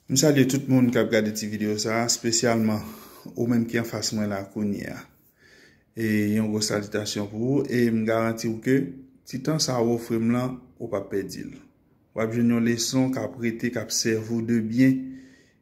M salye tout moun kap gade ti video sa, spesyalman ou menm ki anfas mwen la kounye a. E yon gwo salitasyon pou ou, e m garanti ou ke ti tan sa ou ofri m lan, ou pap pèdi l. Wap jwenn yon leson kap rete, kap sèvi ou de byen,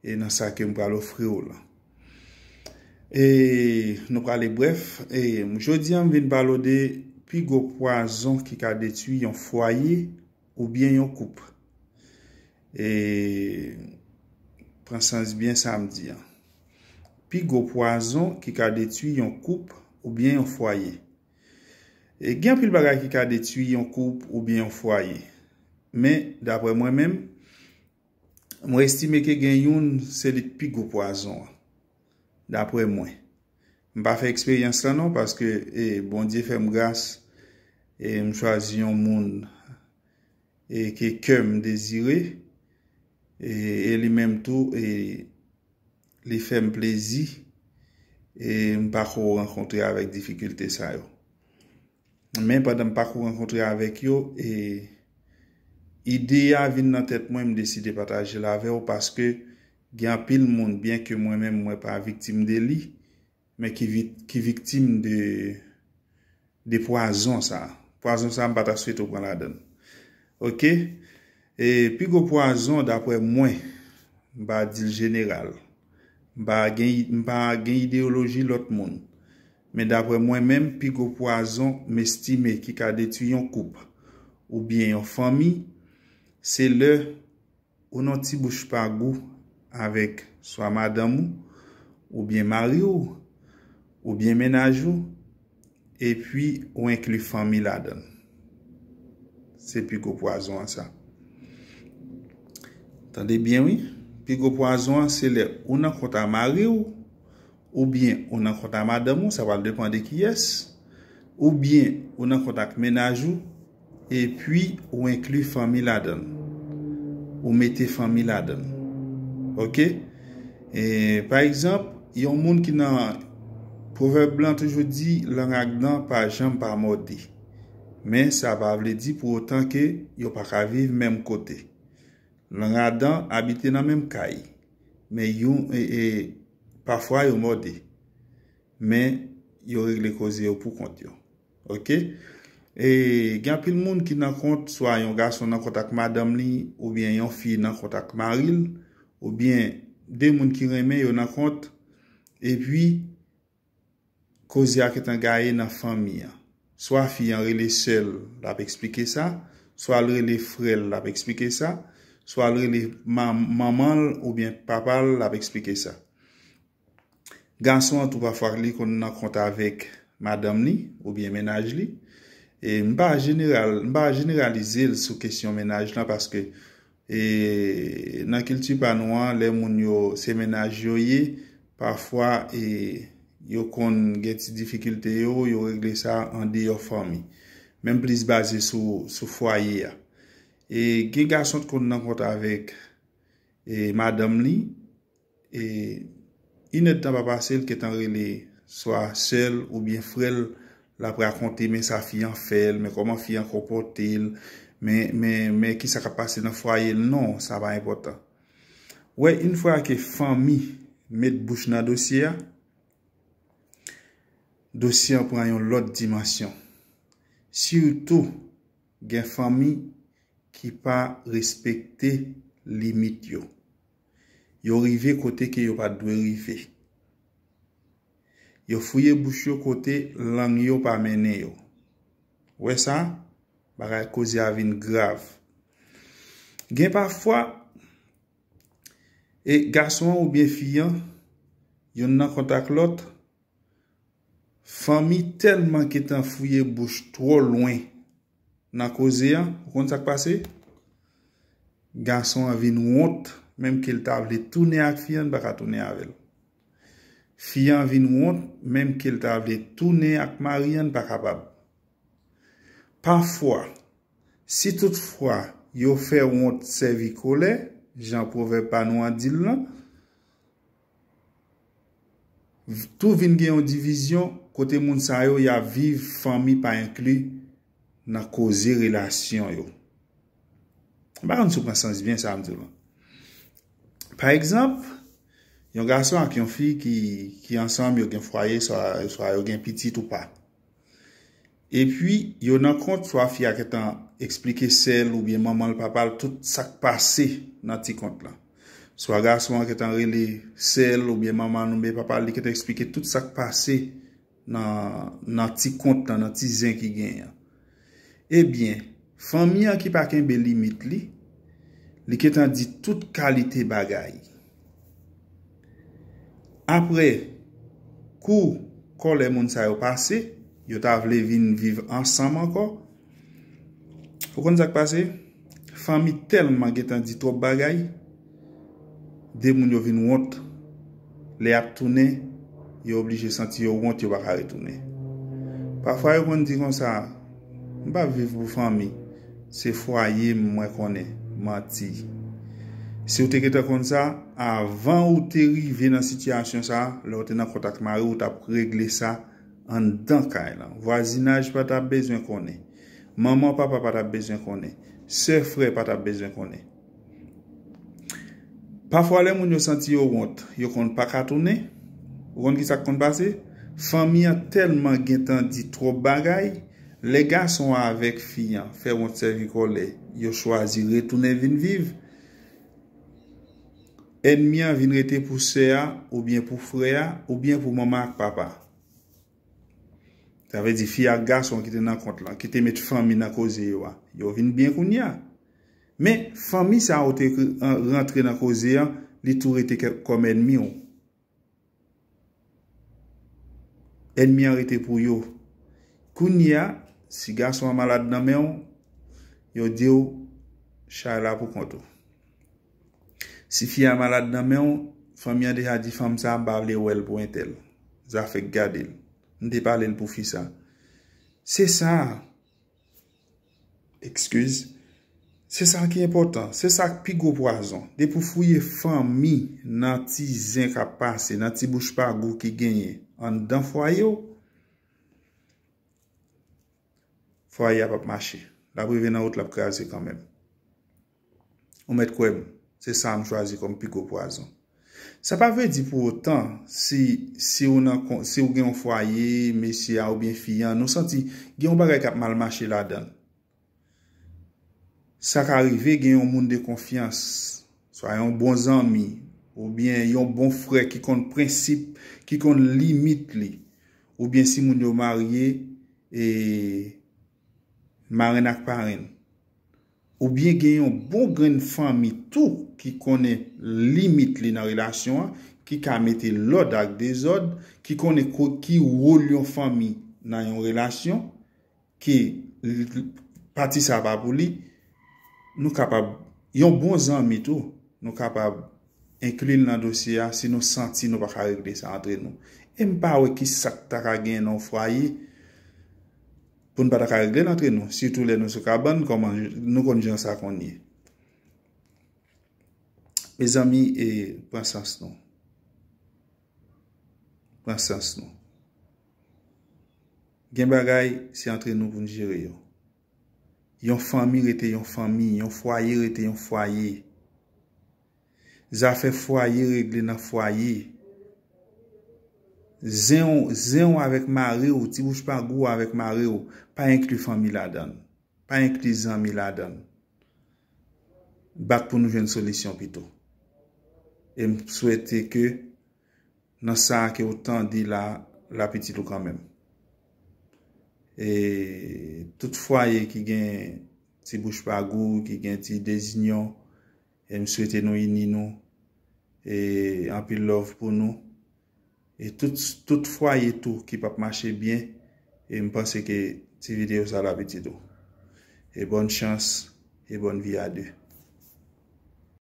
e nan sa ke m pral ofri ou lan. E nou prale brèf, e jodi a m vin pale ou de pi gwo pwazon ki ka detwi yon fwaye, ou byen yon koup. E pran sans byen sa m di an. Pi gwo pwazon ki ka detui yon koup ou byen yon fwaye. E gen anpil bagay ki ka detui yon koup ou byen yon fwaye. Men, dapre mwen menm, mwen estime ke gen youn se li k pi gwo pwazon an. Dapre mwen. M pa fè eksperyans lan non paske e Bondye fè m gras e m chwazi yon moun e ke kè m dezire e e li menm tou e li fè m plezi e m pako rankontre avèk difikilte sa yo. Men pandan m pako rankontre avèk yo, e ide a vin nan tèt mwen, m deside pataje l avè w paske gen anpil moun, byenke mwen menm mwen pa viktim de li, men ki viktim de pwazon sa. Pwazon sa m pa ta swete w pran ladan l. Ok? E pi gwo pwazon daprè mwen, m pa di l jeneral, m pa m pa gen ideyoloji lòt moun, men daprè mwen menm pi gwo pwazon m estime ki ka detui yon koup oubyen yon fanmi, se lè ou nan ti bouch pa gou avèk swa madanm ou, oubyen mari w, oubyen mennaj ou, Epi ou enkli fanmi ladan l. Se pi gwo pwazon an sa. Tande byen wi. Pi gwo pwazon an se lè ou nan kont a mari w, oubyen ou nan kont a madanm ou, sa va depan de kiyès, oubyen ou nan kont ak mennaj ou. Epi ou enkli fanmi ladan l. Ou mete fanmi ladan l. Ok? E, pa egzanp, yon moun ki nan, pwovèb lan toujou di, lang ak dan pa janm pa mòde. Men sa pa vle di pou otan ke yo pa ka viv menm kote. Lang a dan abite nan menm kay. Men yon, e, e, pafwa yo mòde. Men yo regle koze yo pou kont yo. Ok E gen anpil moun ki nan kont swa yon gason nan kont ak madanm li oubyen yon fi nan kont ak mari l oubyen de moun ki renmen yo nan kont epi koze a gentan gaye nan fanmi an. Swa fi an rele sè l l ap eksplike sa, swa l rele frè l l ap eksplike sa, swa l rele manman l oubyen papa l l ap eksplike sa. Gason an tou pafwa li konn nan kont avèk madanm li oubyen mennaj li. E m pa jeneral, m pa jeneralize l sou kesyon mennaj lan paske e nan kilti pa nou an lè moun yo se mennaj yo ye, pafwa e yo konn gen ti difikilte yo, yo regle sa an deyò fanmi. Men m plis baze sou sou fwaye a. E gen gason t konn nan kont avèk e madanm li. E inèdtan pa pase l gentan rele swa sè l oubyen frè l l ap rakonte men sa fi an fè l men kòman fi an konpòte l men kisa k ap pase nan fwaye l non sa pa enpòtan wè yn fwa ke fanmi met bouch nan dosye a dosye an pran yon lòt dimansyon sitou gen fanmi ki pa respekte limit yo Yo rive kote ke yo pa t dwe rive. Yo fouye bouch yo kote lang yo pa mennen yo. Ou wè sa? Bagay koze a vin grav. Gen pafwa, e gason an oubyen fi an, yonn nan kontak lòt, fanmi tèlman gentan fouye bouch twò lwen. Nan koze an, ou konn sa k pase? Gason an vin wont, menm ke l ta vle tounen ak fi an, li pa ka tounen avè l. Fi an vin wont, menm ke l ta vle tounen ak mari an, li pa kapab. Pafwa, si tout fwa yo fè wont sèvi kolè, jan pwovèb pa nou an di l lan, Tou vin gen yon divizyon kote moun sa yo ya viv fanmi pa enkli nan koze relasyon yo. M pa konn si w pran sans byen sa m di w lan. Pa egzanp, yon gason ak yon fi ki ansanm yo gen fwaye swa yo gen pitit ou pa. Epi, yo nan kont, swa fi a gentan eksplike sè l oubyen manman l, papa l, tout sa k pase nan ti kont lan. Swa gason an gentan rele sè l oubyen manman l oubyen papa l, li gentan eksplike tout sa k pase nan ti kont lan, nan ti zen ki genyen an. Ebyen, fanmi an ki pa kenbe limit li, li gentan di tout kalite bagay. Aprè, kou kòlè moun sa yo pase, yo ta vle vin viv ansanm ankò, ou konn sa k pase? Fanmi tèlman gentan di twòp bagay. 2 moun yo vin wont lè y ap tounen yo oblije santi yo wont yo pa ka retounen. Pafwa yo konn di konsa m pa viv pou fanmi se fwaye m mwen konnen. Manti. Si w te gentan konn sa avan ou te rive nan sitiyasyon sa lè w te nan kont ak mari w ou t ap regle sa anndan kay lan. Vwazinaj pa ta bezwen konnen. Manman papa pa ta bezwen konnen. Sè frè pa ta bezwen konnen. Pafwa lè moun yo santi yo wont, yo konn pa ka tounen. Ou konn ki sa k konn pase? Fanmi an tèlman gen tan di twòp bagay, lè gason an avèk fi an fè wont sèvi kòlè, yo chwazi retounen vin viv. Ènmi an vin rete pou sè a oubyen pou frè a oubyen pou manman ak papa. Sa vle di fi ak gason ki te nan kont lan, ki te met fanmi nan koze yo a, yo vin byen kounye a. Men, fanmi sa ou te rantre nan koze an, li tou rete kòm ènmi ou. Ènmi an rete pou yo. Kounye a, si gason an malad nan men ou, yo di ou, chay la pou kont ou. Si fi a malad nan men ou, fanmi an deja di fanm sa, m pa vle wè l pou entèl. Zafè k gade l. M te pale l pou fi sa. Se sa. Ekskiz. Se sa ki enpòtan. Se sa ki pi gwo pwazon. Depi w fouye fanmi nan ti zen k ap pase, nan ti bouch pa gou ki genyen anndan fwaye w, fwaye a p ap mache. L ap rive nan wout l ap kraze kanmenm. Ou mèt kwè m, se sa a m chwazi kòm pi gwo pwazon. Sa pa vle di pou otan, si, si ou nan, si ou gen yon fwaye, mesye a oubyen fi an, nou santi gen yon bagay k ap mal mache ladan l. Sa ka rive gen yon moun de konfyans, swa yon bon zanmi, oubyen yon bon frè ki konn prensip, ki konn limit li. Oubyen si moun yo marye, e, Marenn ak parenn. Ou byen gen yon bon grenn fanmi tou ki konnen limit li nan relasyon an, ki ka mete lòd ak dezòd, ki konnen ki wol yon fanmi nan yon relasyon, ke pati sa pa pou li. Nou kapab, yon bon zanmi tou, nou kapab enkli l nan dosye a si nou santi nou pa ka regle sa antre nou. E m pa wè ki sa k ta ka genyen nan yon fwaye, pou n pa ta ka regle l antre nou, sitou lè nou sou kabann, kòman, nou konn jan sa konn ye. Mezanmi, e, pran sans nou. Pran sans nou. Gen bagay, se antre nou pou n jere yo. Yon fanmi rete yon fanmi, yon fwaye rete yon fwaye. Zafè fwaye regle nan fwaye. Zen w, zen w avèk mari w, ti bouch pa gou w avèk mari w, pa enkli fanmi ladan l. Pa enkli zanmi ladan l. Bat pou nou jwenn solisyon pito. E m swete ke nan sa ke w tande la, l ap itil ou kanmenm. E tout fwaye ki gen ti bouch pa gou, ki gen ti dezinyon. E m swete nou ini nou e anpil love pou nou e tout tout fwaye tou ki pap mache byen e m panse ke ti video sa lap itil ou e bonne chance e bonne vie à deux.